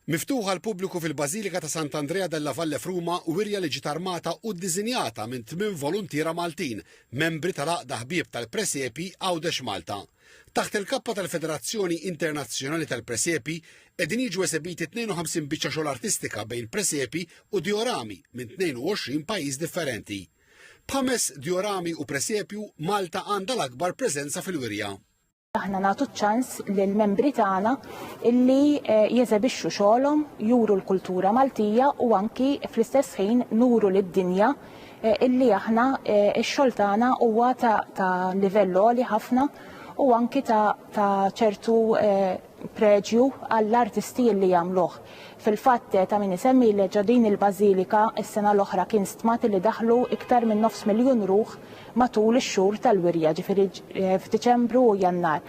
Miftuħ għall-pubbliku fil-Bażilika ta' Sant'Andrea della Valle f'Ruma, wirja li ġiet armata u ddisinjata minn tmien voluntiera Maltin, membri tal-Għaqda Ħbieb tal-Presepji Għawdex Malta. Taħt il-kappa tal-Federazzjoni Internazzjonali tal-Presepji, qegħdin jiġu esebiti 52 biċċa xogħol artistika bejn presepji u diorami minn 22 pajjiż differenti. B'ħames diorami u presepju, Malta għandha l-akbar preżenza fil-wirja. aħna nagħtu ċans lil membri tagħna illi eh, jeżebixxu xogħolhom, juru l-kultura Maltija u anki fl-istess ħin nuru lid-dinja eh, illi aħna eh, x-xogħol tagħna huwa ta' livell għoli ħafna u anki ta' ċertu preġju għall-artisti illi jagħmluh. Fil-fatt, ta' min isemmi li ġo din il-bażilika s-sena l-oħra kien stmat li daħlu iktar minn nofs miljun ruħ matul ix-xhur tal-wirja, ġifieri f'Diċembru u Jannar.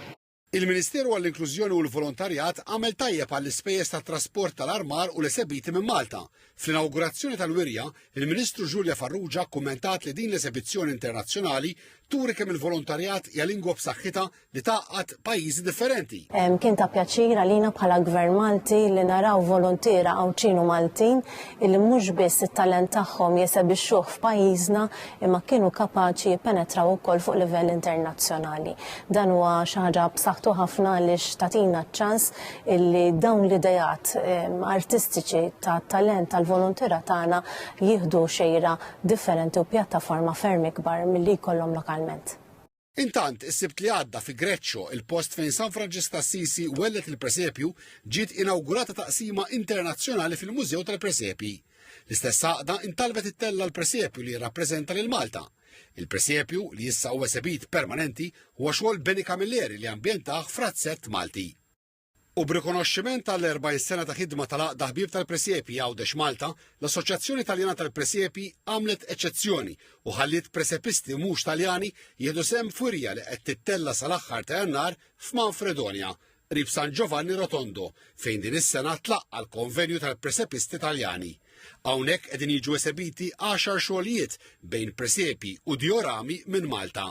Il-Ministeru għall-Inklużjoni u l-Volontarjat għamel tajjeb għall-ispejjeż tat-trasport tal-armar u l-esebiti minn Malta. Fl-inawgurazzjoni tal-wirja, il-Ministru Julia Farrugia kkummentat li din l-esebizzjoni internazzjonali turi kemm il-volontarjat hija lingwa b'saħħitha li tgħaqqad pajjiżi differenti. Kien ta' pjaċir għalina bħala Gvern Malti li naraw voluntiera Għawdxin u Maltin illi mhux biss it-talent tagħhom jesebixxuh f'pajjiżna imma kienu kapaċi jippenetraw ukoll fuq livell internazzjonali. Dan huwa xi ħaġa b'saħħtu ħafna għaliex tagħtina ċ-ċans illi dawn l-ideat artistiċi tat-talent tal-voluntiera tagħna jieħdu xejra differenti u pjattaforma ferm ikbar milli jkollhom lokalment. Intant, is-Sibt li għadda fi Greccio, il-post fejn San Franġisk t'Assisi welled il-presepju, ġiet inawgurata taqsima internazzjonali fil-Mużew tal-Presepji. L-istess għaqda intalbet ittella' l-presepju li jirrappreżenta lil Malta. Il-presepju, li issa huwa esebit permanenti, huwa xogħol Beni Camilleri li ambjentah f'razzett Malti. U b'rikonoxximent għall-40 sena ta' ħidma tal-Għaqda Ħbieb tal-Presepji Għawdex Malta, l-Assoċjazzjoni Taljana tal-Presepji għamlet eċċezzjoni u ħalliet presepisti mhux Taljani jieħdu sehem f'wirja li qed tittella' sal-aħħar ta' Jannar f'Manfredonia, qrib San Giovanni Rotondo, fejn din is-sena tlaqqa' l-Konvenju tal-Presepisti Taljani. Hawnhekk qegħdin jiġu esebiti għaxar xogħlijiet bejn presepji u diorami minn Malta.